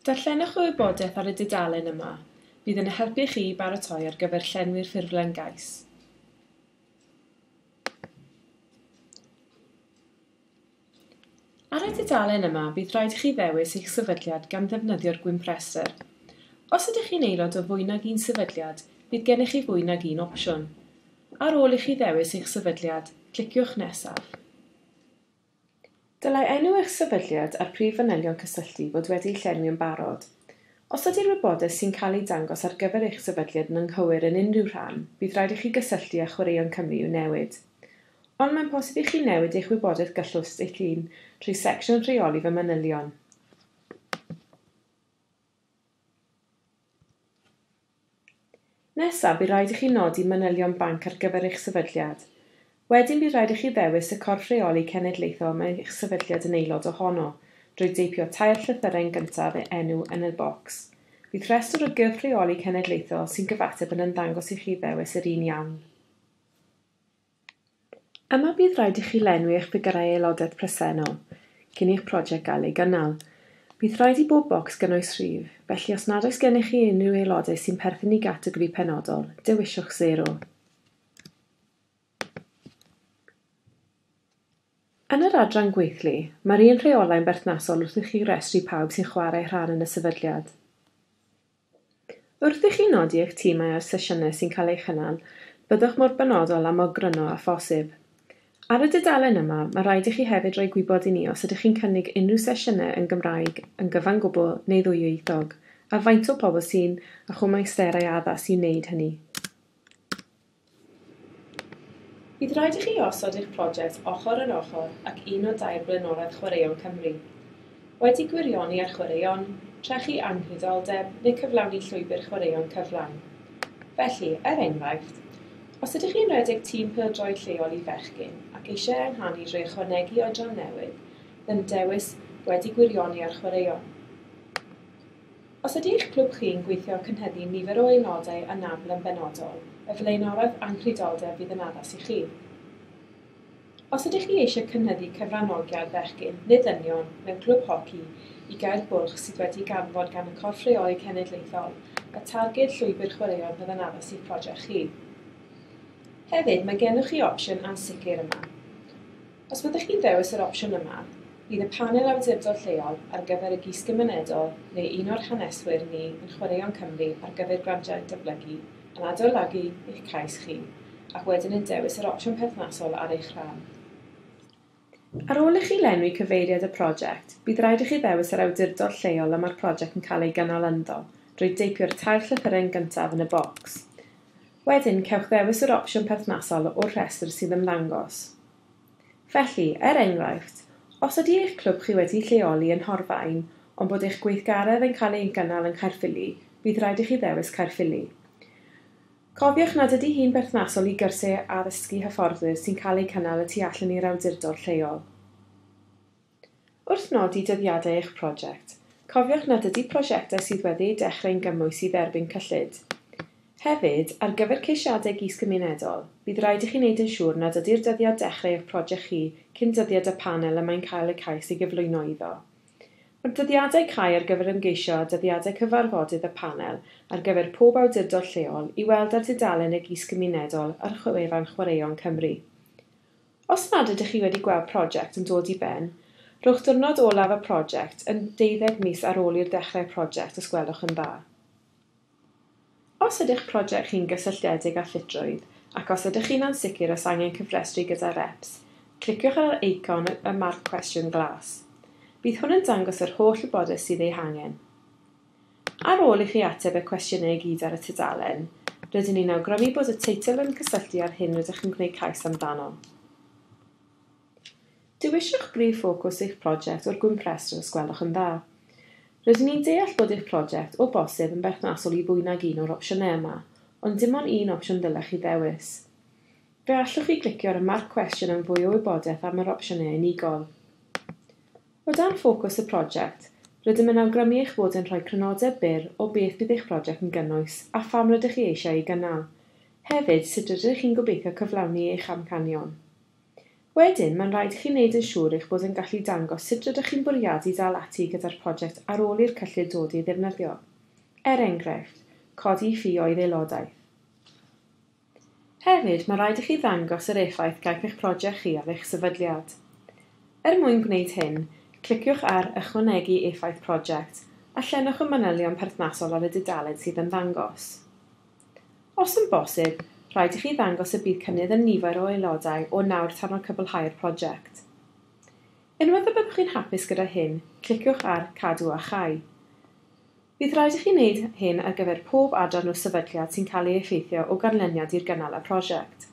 Darllenwch y wybodaeth ar y dudalen yma, bydd yn helpu chi i baratoi ar gyfer llenwi'r ffurflen gais. Ar y dudalen yma bydd rhaid i chi ddewis eich sefydliad gan ddefnyddio'r gwympresr. Os ydych chi'n aelod o fwy nag un sefydliad, bydd gennych chi fwy nag un opsiwn. Ar ôl i chi ddewis eich sefydliad, cliciwch Nesaf. Dylai enw eich sefydliad a'r prif fanylion cysylltu fod wedi'u llenwi yn barod. Os ydy'r wybodaeth sy'n cael ei dangos ar gyfer eich sefydliad yn anghywir yn unrhyw rhan, bydd rhaid i chi gysylltu â Chwaraeon Cymru i'w newid. Ond mae'n posib i chi newid eich wybodaeth gyllwst eich hun trwy secsiwn Rheoli fy manylion. Nesaf, bu rhaid i chi nodi manylion banc ar gyfer eich sefydliad. Wedyn bu rhaid i chi ddewis y corff rheoli cenedlaethol mae eich sefydliad yn aelod ohono, drwy deipio tair llythyrau yn gyntaf e enw yn y bocs. Bydd rhestr o gyrff rheoli cenedlaethol sy'n gyfateb yn ymddangos i chi ddewis yr un iawn. Yma bydd rhaid i chi lenwi eich ffigyrau aelodaeth presennol cyn i'ch prosiect gael ei gynnal. Bydd rhaid i bob bocs gynnwys rhif, felly os nad oes gennych chi unrhyw aelodau sy'n perthyn i gategori penodol, dewiswch sero. Yn yr adran gweithlu, mae'r un rheolau'n berthnasol wrth i chi restru pawb sy'n chwarae rhan yn y sefydliad. Wrth i chi nodi eich timau a'r sesiynau sy'n cael eu cynnal, byddwch mor benodol a mor gryno â phosib. Ar y dudalen yma, mae rhaid i chi hefyd roi gwybod i ni os ydych chi'n cynnig unrhyw sesiynau yn Gymraeg yn gyfan gwbl neu ddwyieithog, a faint o bobl sy'n â chwmaisterau addas i wneud hynny. Bydd rhaid i chi osod eich prosiect ochr yn ochr ac un o dair blaenorau Chwaraeon Cymru. Wedi gwirioni ar chwaraeon, trechu anghydioldeb neu cyflawni llwybr chwaraeon cyflawn. Felly, er enghraifft, os ydych chi'n rhedeg tîm pêl-droed lleol i fechgyn ac eisiau ehangu drwy ychwanegu oedran newydd, then dewis 'Wedi gwirioni ar chwaraeon'. Os ydy eich clwb chi'n gweithio cynhyddu nifer o aelodau anabl yn benodol, y flaenoreth anghludoldeb fydd yn addas i chi. Os ydych chi eisiau cynhyddu cyfranogiad bechgyn, neu ddynion, mewn clwb hoci i Gaer Bwlch sydd wedi'i ganfod gan y Corff Rheoli Cenedlaethol, y targed Llwybr Chwaraeon fydd yn addas i'ch project chi. Hefyd, mae gennych chi opsiwn ansicr yma. Os byddwch chi'n dewis yr opsiwn yma, bydd y Panel Awdurdod Lleol ar gyfer y Gysgymunedol neu un o'r haneswyr ni yn Chwaraeon Cymru ar gyfer Grantiau Datblygu yn adolygu eich cais chi ac wedyn yn dewis yr opsiwn perthnasol ar eich rhan. Ar ôl i chi lenwi cyfeiriad y prosiect, bydd rhaid i chi ddewis yr awdurdod lleol y mae'r prosiect yn cael ei gynnal ynddo drwy deipio'r tair llythyren gyntaf yn y bocs. Wedyn, cewch ddewis yr opsiwn perthnasol o'r rhestr sy'n ymddangos. Felly, er enghraifft, os ydy eich clwb chi wedi'i lleoli yn Nhorfaen ond bod eich gweithgaredd yn cael ei gynnal yng Nghaerffili, bydd rhaid i chi ddewis Caerffili. Cofiwch nad ydy hi'n berthnasol i gyrsiau addysgu hyfforddwyr sy'n cael eu cynnal y tu allan i'r awdurdod lleol. Wrth nodi dyddiadau eich prosiect, cofiwch nad ydy prosiectau sydd wedi eu dechrau'n gymwys i dderbyn cyllid. Hefyd, ar gyfer ceisiadau gis-gymunedol, bydd rhaid i chi wneud yn siŵr nad ydy'r dyddiad dechrau eich prosiect chi cyn dyddiad y panel y mae'n cael y cais ei gyflwyno iddo. Mae'r dyddiadau cau ar gyfer ymgeisio a dyddiadau cyfarfodydd y panel ar gyfer pob awdurdod lleol i weld ar dudalen y gis-gymunedol ar wefan Chwaraeon Cymru. Os nad ydych chi wedi gweld prosiect yn dod i ben, rhowch ddiwrnod olaf y prosiect yn deuddeg mis ar ôl i'r dechrau'r prosiect os gwelwch yn dda. Os ydych prosiect chi'n gysylltiedig â llitrwydd ac os ydych chi'n ansicr os angen cyfrestru gyda REPS, cliciwch ar yr eicon y marc cwestiwn glas. Bydd hwn yn dangos yr holl wybodaeth sydd ei hangen. Ar ôl i chi ateb y cwestiynau i gyd ar y tudalen, rydyn ni'n awgrymu bod y teitl yn cysylltu â'r hyn rydych yn gwneud cais amdano. Dewiswch brif ffocws eich prosiect o'r gwymp rhestr os gwelwch yn dda. Rydyn ni'n deall bod eich prosiect, o bosib, yn berthnasol i fwy nag un o'r opsiynau yma, ond dim ond un opsiwn ddylech chi ddewis. Fe allwch chi glicio ar y marc cwestiwn am fwy o wybodaeth am yr opsiynau unigol. O dan ffocws y prosiect, rydym yn awgrymu eich bod yn rhoi crynodeb byr o beth bydd eich prosiect yn gynnwys a pham rydych chi eisiau ei gynnal. Hefyd, sut rydych chi'n gobeithio cyflawni eich amcanion. Wedyn, mae'n rhaid i chi wneud yn siŵr eich bod yn gallu dangos sut rydych chi'n bwriadu dal ati gyda'r prosiect ar ôl i'r cyllid dod ei ddefnyddio. Er enghraifft, codi ffi oedd aelodaeth. Hefyd, mae rhaid i chi ddangos yr effaith gaiff eich project chi ar eich sefydliad. Er mwyn gwneud hyn, cliciwch ar 'Ychwanegu effaith project' a llenwch y manylion perthnasol ar y dudalen sydd yn ddangos. Os yn bosib, rhaid i chi ddangos y bydd cynnydd yn nifer o aelodau o nawr tan ar cwblhau'r project. Unwaith y byddwch chi'n hapus gyda hyn, cliciwch ar 'Cadw a Chau'. Bydd rhaid i chi wneud hyn ar gyfer pob adran o sefydliad sy'n cael ei effeithio o ganlyniad i'r gynnal y prosiect.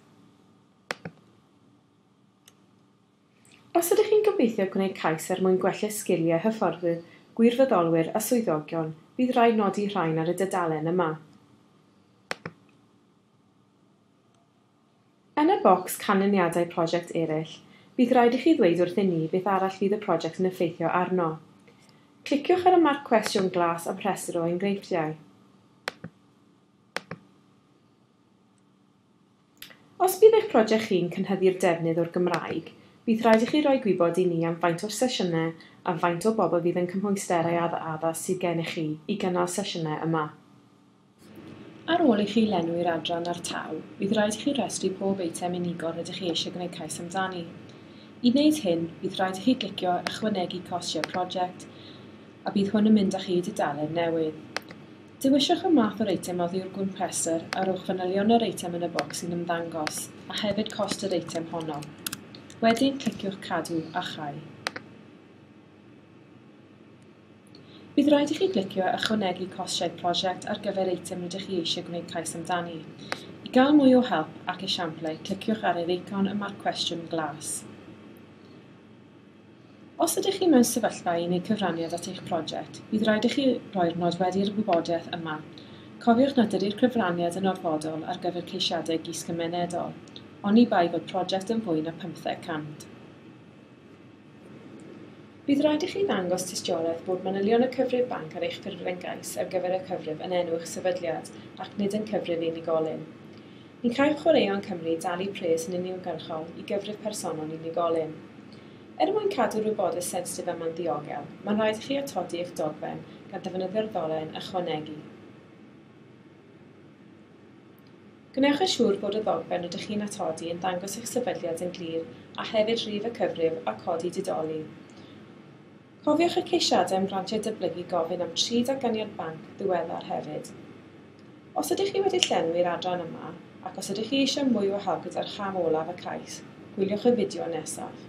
Os ydych chi'n gobeithio gwneud cais er mwyn gwella sgiliau hyfforddwyr, gwirfoddolwyr a swyddogion, bydd rhaid nodi rhain ar y dudalen yma. Yn y bocs 'Canlyniadau Prosiect Eraill', bydd rhaid i chi ddweud wrthyn ni beth arall fydd y prosiect yn effeithio arno. Cliciwch ar y marc cwestiwn glas am rhestr o enghreifftiau. Os bydd eich prosiect chi'n cynhyddu'r defnydd o'r Gymraeg, bydd rhaid i chi roi gwybod i ni am faint o'r sesiynau a faint o bobl fydd yn cymhwyster ei addas sydd gennych chi i gynnal sesiynau yma. Ar ôl i chi lenwi'r adran a'r tau, bydd rhaid i chi restru pob eitem unigol rydych chi eisiau gwneud cais amdani. I wneud hyn, bydd rhaid i chi glicio 'Ychwanegu Costiau Prosiect' a bydd hwn yn mynd â chi i dudalen newydd. Dewiswch y math o'r eitem oddi wrth gwmp rhestr a rhowch fanylion yr eitem yn y bocs sy'n ymddangos, a hefyd cost yr eitem honno. Wedyn, cliciwch 'Cadw a Chau'. Bydd rhaid i chi glicio 'Ychwanegu Costau Prosiect' ar gyfer eitem rydych chi eisiau gwneud cais amdani. I gael mwy o help ac esiamplau, cliciwch ar yr eicon y mae'r cwestiwn glas. Os ydych chi mewn sefyllfa i wneud cyfraniad at eich prosiect, bydd rhaid i chi roi'r nodweddi i'r wybodaeth yma. Cofiwch nad ydy'r cyfraniad yn orfodol ar gyfer ceisiadau gysgymenedol, oni bai fod prosiect yn fwy na 500 cant. Bydd rhaid i chi ddangos tystiolaeth bod manylion y cyfrif banc ar eich ffurflen gais ar gyfer y cyfrif yn enw eich sefydliad ac nid yn cyfrif unigolyn. Ni chaiff Chwaraeon Cymru dalu pres yn uniongyrchol i gyfrif personol unigolyn. Er mwyn cadw'r wybodaeth sensitif yma'n ddiogel, mae'n rhaid i chi atodi eich dogfen gan ddefnyddio'r ddolen 'ychwanegu'. Gwnewch yn siŵr bod y ddogfen rydych chi'n atodi yn dangos eich sefydliad yn glir a hefyd rif y cyfrif a codi didoli. Cofiwch eich ceisiadau am grantiau dyblygu gofyn am tri datganiad banc ddiweddar hefyd. Os ydych chi wedi llenwi'r adran yma, ac os ydych chi eisiau mwy o help gyda'r cham olaf y cais, gwyliwch y fideo nesaf.